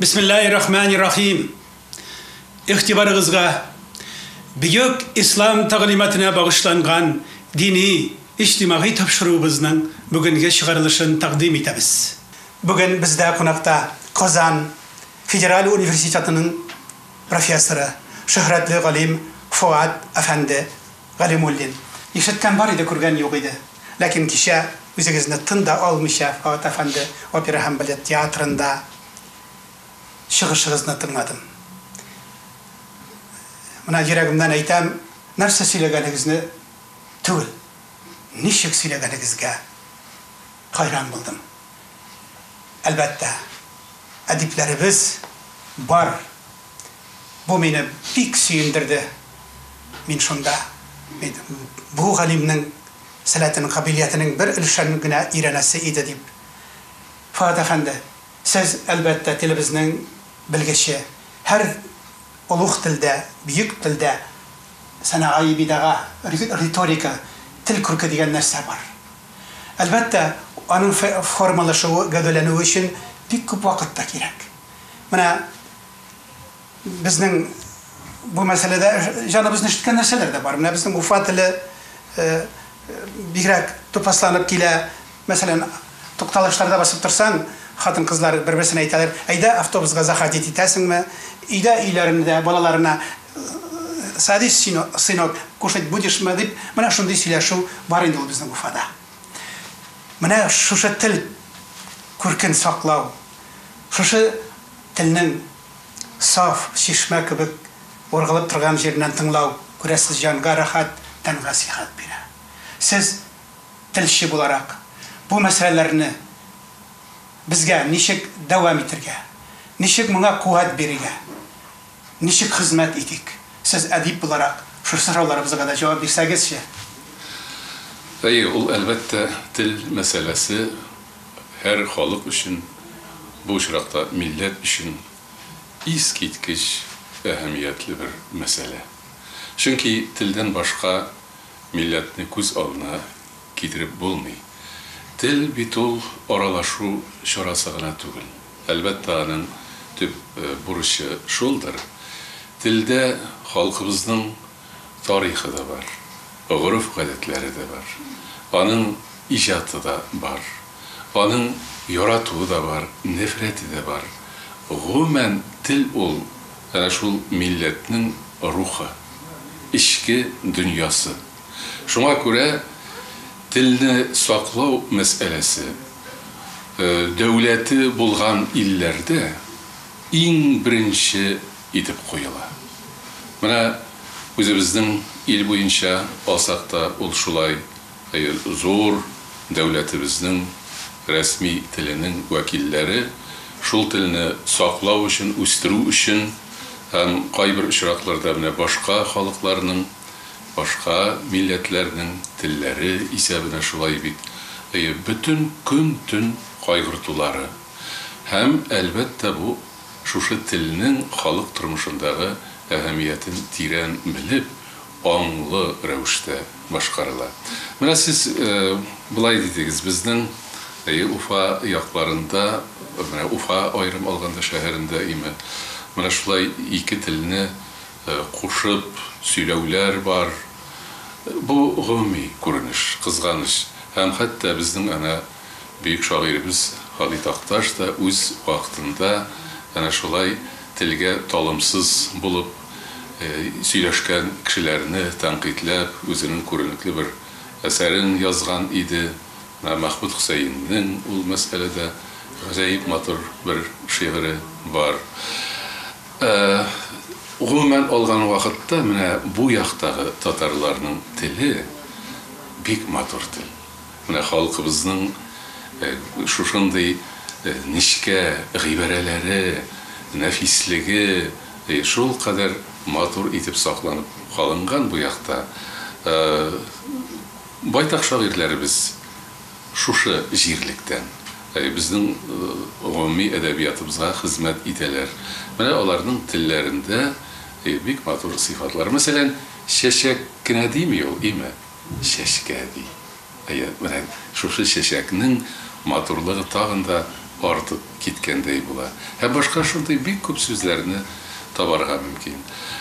Бисмиллаһи рахмани рахим. Ихтибарыгызга бөек ислам тәгълиматына багышланган дини, иҗтимагый тапшыруыбызның бүгенге чыгарылышын тәкъдим итәбез. Бүген бездә кунакта Казан федераль университетының профессоры, шөһрәтле галим Фоат әфәнде Галимуллин. Ишеткән бар иде, күргән юк иде. Ләкин кичә үзегезне тын да алмыйча Фоат әфәнде опера һәм балет театрында чыгышыгызны тыңладым. Менә йөрәгемнән әйтәм, нәрсә сөйләгәнегезне түгел, ничек сөйләгәнегезгә. Хайран булдым. Әлбәттә, әдипләребез бар. Бу мине бик сөендерде. Мин шунда мин бу галимнең сәләтен, кабилиятенең бер өлешен генә өйрәнәсе иде дип. Фоат әфәнде, сез, әлбәттә, телебезнең белгече. Һәр олуг телдә, бөек телдә сәнәгаи бидага, риторика, тел күрке дигән нәрсә бар. Әлбәттә, аның фе формалашуы, гәүдәләнүе өчен бик күп вакыт та кирәк. Менә безнең бу мәсьәләдә җаныбызны өшеткән нәрсәләр дә бар. Менә безнең Уфа теле э, бигрәк тупасланып килә. Мәсәлән, тукталышларда басып торсаң, хатын-кызлар бер-берсенә әйтәләр, әйдә автобусга заходить итәсеңме? Өйдә өйләрендә балаларына Садись, сынок, кушать будешь мы, дип, менә шундый сөйләшү бар инде ул безнең Уфада. Менә шушы тел күркен саклау, шушы телнең саф чишмә кебек ургылып торган җиреннән тыңлау, күрәсез, җанга рәхәт, тәнгә сихәт бирә. Сез, телче буларак, бу мәсьәләләрне безгә ничек дәвам итергә, ничек моңа куәт бирергә? Ничек хезмәт итик? Сез әдип буларак, шушы сорауларыбызга да җавап бирсәгезче. Әйе, ул, әлбәттә, тел мәсьәләсе һәр халык өчен, бу очракта милләт өчен искиткеч әһәмиятле бер мәсьәлә. Чөнки телдән башка милләтне күз алдына китереп булмый. Тел бит ул аралашу чарасы гына түгел. Әлбәттә, аның төп бурычы шулдыр. Телдә халкыбызның тарихы да бар, гореф-гадәтләре дә бар, аның иҗаты да бар, аның яратуы да бар, нәфрәте дә бар. Гомумән, тел ул, әнә шул милләтнең рухы, эчке дөньясы. Шуңа күрә телне саклау мәсьәләсе дәүләте булган илләрдә иң беренче итеп куела. Менә үзебезнең ил буенча алсак та, ул шулай, зур дәүләтебезнең рәсми теленең вәкилләре шул телне саклау өчен, үстерү өчен һәм кайбер очракларда менә башка халыкларның, Башка милләтләрнең телләре исәбенә шулай бит, әйе, бөтен көн-төн кайгыртулары. Һәм, әлбәттә, бу, шушы телнең халык тормышындагы әһәмиятен тирән белеп, аңлы рәвештә башкарыла. Менә сез болай дидегез, безнең, әйе, Уфа якларында, менә Уфа аерым алганда шәһәрендә име, менә шулай ике телне, кушып сөйләүләр бар. Бу гомуми күренеш, кызганыч. Һәм хәтта безнең әнә бөек шагыйребез Гали Такташ да үз вакытында әнә шулай телгә талымсыз булып сөйләшкән кешеләрне тәнкыйтьләп, үзенең күренекле бер әсәрен язган иде. Менә Мәхмүт Хөсәеннең ул мәсьәләдә гаҗәеп матур бер шигыре бар. Ә, гомумән алган вакытта, менә бу яктагы татарларның теле бик матур тел. Менә халкыбызның шушындый нечкә гыйбарәләре, нәфислеге шул кадәр матур итеп сакланып калынган бу якта. Ә, байтак шагыйрьләребез Шушы җирлектән. Әй, безнең гомуми әдәбиятыбызга хезмәт итәләр. Менә аларның телләрендә бик матур сыйфатлар. Мәсәлән, чәчәк кенә дими ул, име? Чәчкә ди. Әйе, менә шушы чәчәкнең матурлыгы тагын да артып киткәндәй була. Һәм башка шундый бик күп сүзләрне табарга мөмкин.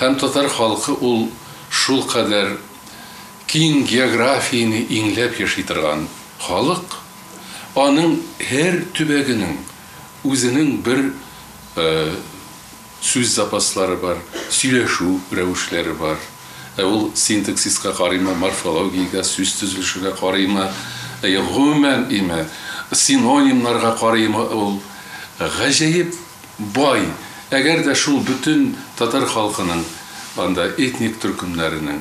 Һәм татар халкы ул шулкадәр. Киң географияне иңләп яши торган халык, аның һәр төбәгенең үзенең бер сүз запаслары бар, сөйләшү рәвешләре бар. Ә ул синтаксиска карыймы, морфологиягә, сүз төзелешегә карыймы, гомумән име, синонимнарга карыймы, ул гаҗәеп бай. Әгәр дә шул бөтен татар халкының, анда этник төркемнәренең,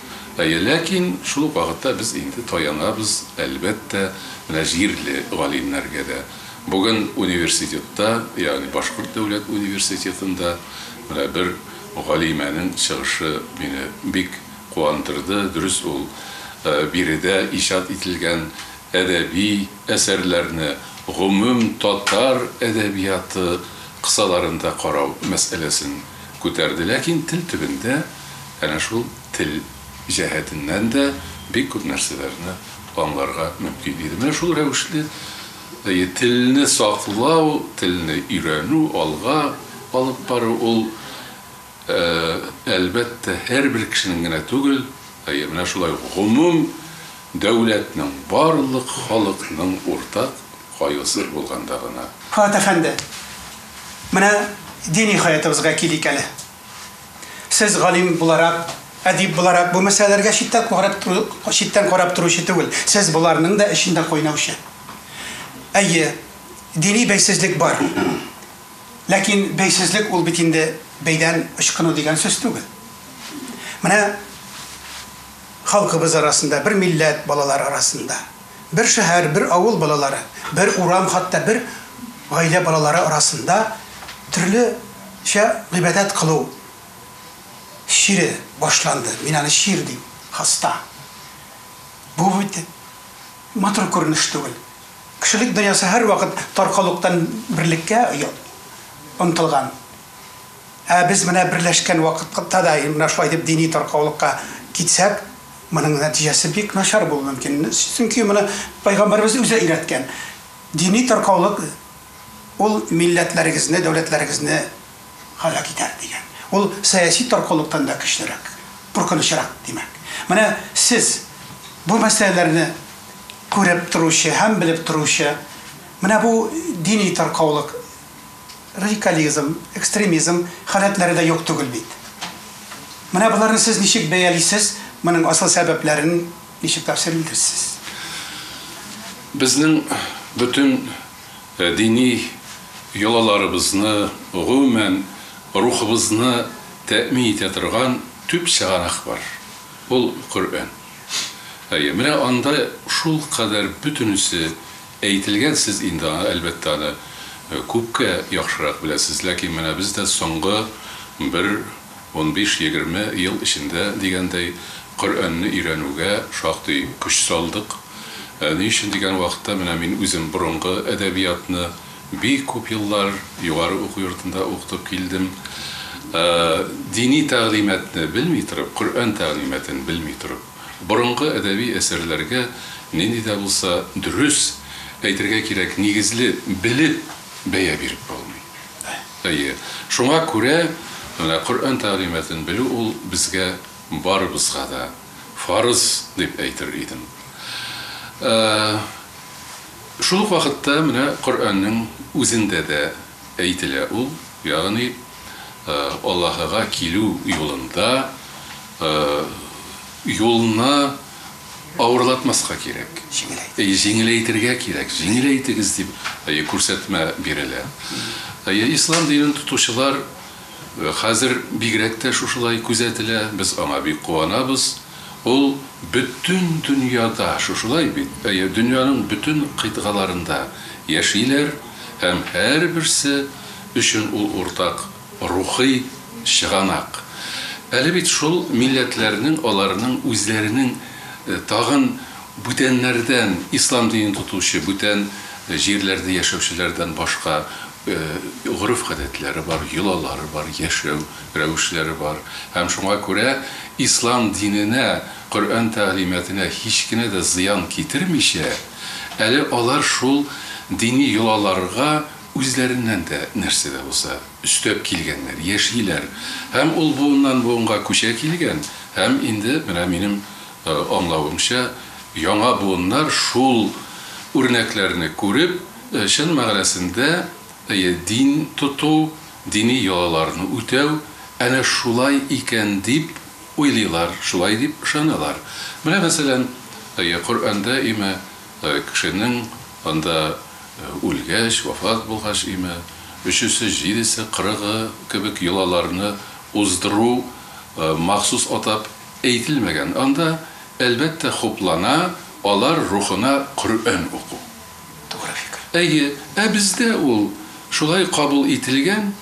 Әйе, ләкин шул ук вакытта без инде таянабыз, әлбәттә, менә җирле галимнәргә дә. Бүген университетта, ягъни Башкорт дәүләт университетында менә бер галимәнең чыгышы мине бик куандырды. Дөрес, ул биредә иҗат ителгән әдәби әсәрләрне гомум татар әдәбияты кысаларында карау мәсьәләсен күтәрде, ләкин тел төбендә, Әнә шул тел җәһәтеннән дә бик күп нәрсәләрне аңларга мөмкин иде. Менә шул рәвешле телне саклау, телне өйрәнү, алга алып бару, ул, әлбәттә, һәрбер кешенең генә түгел, әйе, менә шулай гомум дәүләтнең, барлык халыкның уртак кайгысы булганда гына. Фоат әфәнде, менә дини хаятыбызга килик әле. Сез галим буларак, әдип буларак бу мәсьәләләргә читтән карап тору, читтән карап торучы түгел. Сез боларның да эчендә кайнаучы. Әйе, дини бәйсезлек бар. Ләкин бәйсезлек ул бит инде бәйдән ычкыну дигән сүз түгел. Менә халкыбыз арасында, бер милләт балалары арасында. Бер шәһәр, бер авыл балалары, бер урам, хәтта бер гаилә балалары арасында төрлечә гыйбадәт кылу чире башланды. Мин аны чир дим, хаста. Бу бит матур күренеш түгел. Кешелек дөньясы һәрвакыт таркаулыктан берлеккә омтылган. Ә без менә берләшкән вакытта да менә шулай дип дини таркаулыкка китсәк, моның нәтиҗәсе бик начар булу мөмкин. Чөнки моны Пәйгамбәребез үзе өйрәткән. Дини таркаулык ул милләтләрегезне, дәүләтләрегезне һәлак итәр, дигән. Ул сәяси таркаулыктан да көчлерәк, куркынычрак, димәк. Менә сез, бу мәсьәләләрне күреп торучы һәм белеп торучы, менә бу дини таркаулык, радикализм, экстремизм халәтләре дә юк түгел бит. Менә боларны сез ничек бәялисез, моның асыл сәбәпләрен ничек тәфсир итәрсез? Безнең бөтен дини йолаларыбызны, гомумән, рухыбызны тәэмин итә торган төп чыганак бар, ул Коръән. Әйе, менә анда шулкадәр бөтенесе Әйтелгән, сез инде аны, әлбәттә, аны күпкә яхшырак беләсез, ләкин менә без дә соңгы бер унбиш-егерме ел эчендә, дигәндәй, Коръәнне өйрәнүгә шактый көч салдык. Ни өчен дигән вакытта, менә мин үзем борынгы әдәбиятны бик күп еллар югары уку йортында укытып килдем. Дини тәгълиматны белми торып, Коръән тәгълиматын белми торып. Борынгы әдәби әсәрләргә нинди дә булса дөрес, әйтергә кирәк, нигезле, белеп бәя биреп булмый. Әйе, шуңа күрә менә Коръән тәгълиматын белү ул безгә барыбызга да фарыз дип әйтер идем. Ә шул ук вакытта менә Коръәннең үзендә дә әйтелә ул, ягъни Аллаһыга килү юлында юлны авырлатмаска кирәк. Җиңеләйтергә. Җиңеләйтергә кирәк. Җиңеләйтегез дип күрсәтмә бирелә. Ислам динен тотучылар хәзер бигрәк тә шушылай күзәтелә, без аңа бик куанабыз. Ул бөтен дөньяда шушылай бит. Дөньяның бөтен кыйтгаларында яшиләр һәм һәрберсе өчен ул уртак рухи чыганак. Әле бит шул милләтләрнең, аларның үзләренең тагын бүтәннәрдән, ислам динен тотучы бүтән җирләрдә яшәүчеләрдән башка гореф-гадәтләре бар, йолалары бар, яшәү рәвешләре бар. Һәм шуңа күрә ислам диненә, Коръән тәгълиматына һич кенә дә зыян китермичә, әле алар шул дини йолаларга Үзләреннән дә нәрсә дә булса өстәп килгәннәр, яшиләр. Һәм ул буыннан-буынга күчә килгән. Һәм инде, менә минем аңлавымча, яңа буыннар шул үрнәкләрне күреп, чын мәгънәсендә дин тоту, дини йолаларны үтәү, әнә шулай икән дип уйлыйлар, шулай дип ышаналар. Менә мәсәлән, Коръәндә имә кешенең анда. үлгәч, вафат булгач име, өчесе, җидесе, кырыгы кебек йолаларны уздыру махсус атап әйтелмәгән. Анда, әлбәттә, хуплана алар рухына Коръән уку. Тугры фикер. Әйе, ә бездә ул шулай кабул ителгән.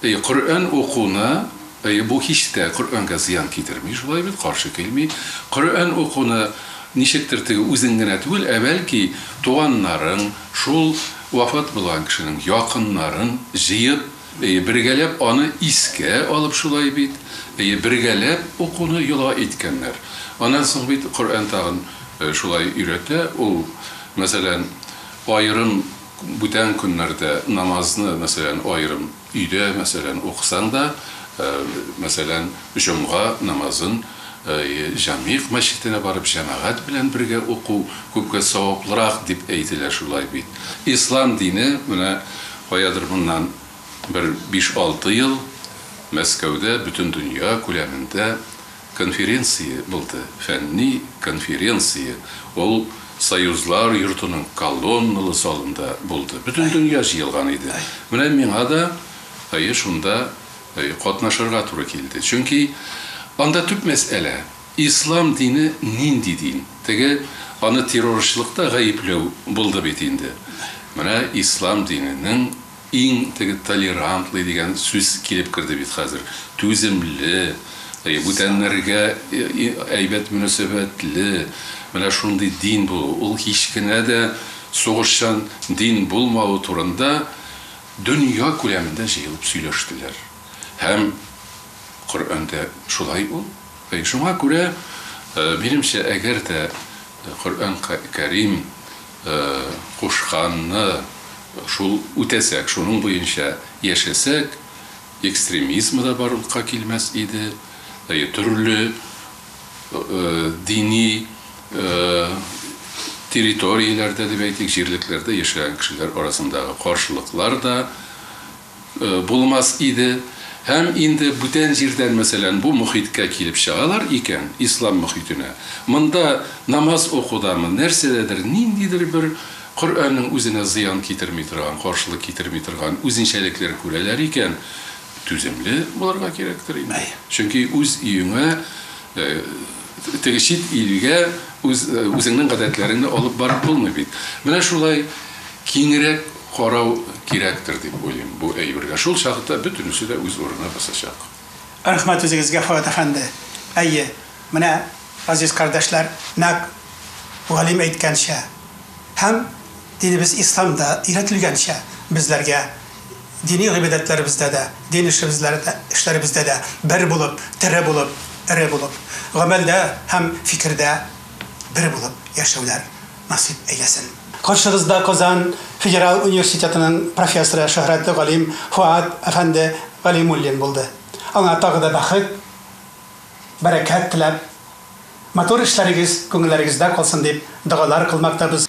Әйе, Коръән укуны, әйе, бу һич тә Коръәнгә зыян китерми, шулай бит, каршы килми. Коръән укуны ничектер теге үзең генә түгел, ә бәлки туганнарың, шул вафат булган кешенең якыннарын җыеп, әйе, бергәләп аны искә алып, шулай бит, әйе, бергәләп укуны йола иткәннәр. Аннан соң бит Коръән тагын шулай өйрәтә, ул, мәсәлән, аерым. Бүтән көннәрдә намазны, мәсәлән, аерым өйдә, мәсәлән, укысаң да, мәсәлән, җомга намазын җәмигъ мәчетенә барып җәмәгать белән бергә уку күпкә саваплырак дип әйтелә шулай бит. Ислам дине менә каядыр моннан бер биш-алты ел Мәскәүдә бөтен дөнья күләмендә Конференция булды, фәнни конференция, ул Союзлар йортының колонналы залында булды. Бөтен дөнья җыелган иде. Менә миңа да, әйе, шунда катнашырга туры килде. Чөнки анда төп мәсьәлә, ислам дине нинди дин? Теге, аны террорчылыкта гаепләү булды бит инде. Менә ислам диненең. Иң теге толерантлый дигән сүз килеп керде бит хәзер. Түземле, бүтәннәргә әйбәт мөнәсәбәтле. Менә шундый дин булу. Ул һич кенә дә сугышчан дин булмавы турында дөнья күләмендә җыелып сөйләштеләр. Һәм Коръәндә шулай ул. Шуңа күрә, минемчә, әгәр дә Коръән Кәрим кушканны шул үтәсәк, шуның буенча яшәсәк, экстремизм да барлыкка килмәс иде, төрле дини территорияләрдә дип әйтик, җирлекләрдә яшәгән кешеләр арасындагы каршылыклар да булмас иде һәм инде бүтән җирдән, мәсәлән, бу мохиткә килеп чыгалар икән, ислам мохитенә, монда намаз укудамы, нәрсәдәдер, ниндидер бер Коръәннең үзенә зыян китерми торган, каршылык китерми торган үзенчәлекләр күрәләр икән, түземле булырга кирәктер инде. Чөнки үз өеңә, Теге чит илгә үз, үзеңнең гадәтләреңне алып барып булмый бит. Менә шулай киңрәк карау кирәктер дип уйлыйм бу әйбергә. Шул чакта бөтенесе дә үз урынына басачак. Рәхмәт үзегезгә, Фоат әфәнде. Әйе, менә, газиз кардәшләр, нәкъ галим әйткәнчә һәм динебез исламда өйрәтелгәнчә, безләргә Дини гыйбадәтләребездә дә, дин эшләребездә дә бер булып, тере булып, эре булып, гамәлдә һәм фикердә бер булып яшәүләр насыйп әйләсен. Каршыгызда Казан федераль университетының профессоры, шөһрәтле галим Фоат әфәнде Галимуллин булды. Аңа тагы да бәхет, бәрәкәт теләп, матур эшләрегез күңелләрегездә калсын дип догалар кылмактабыз.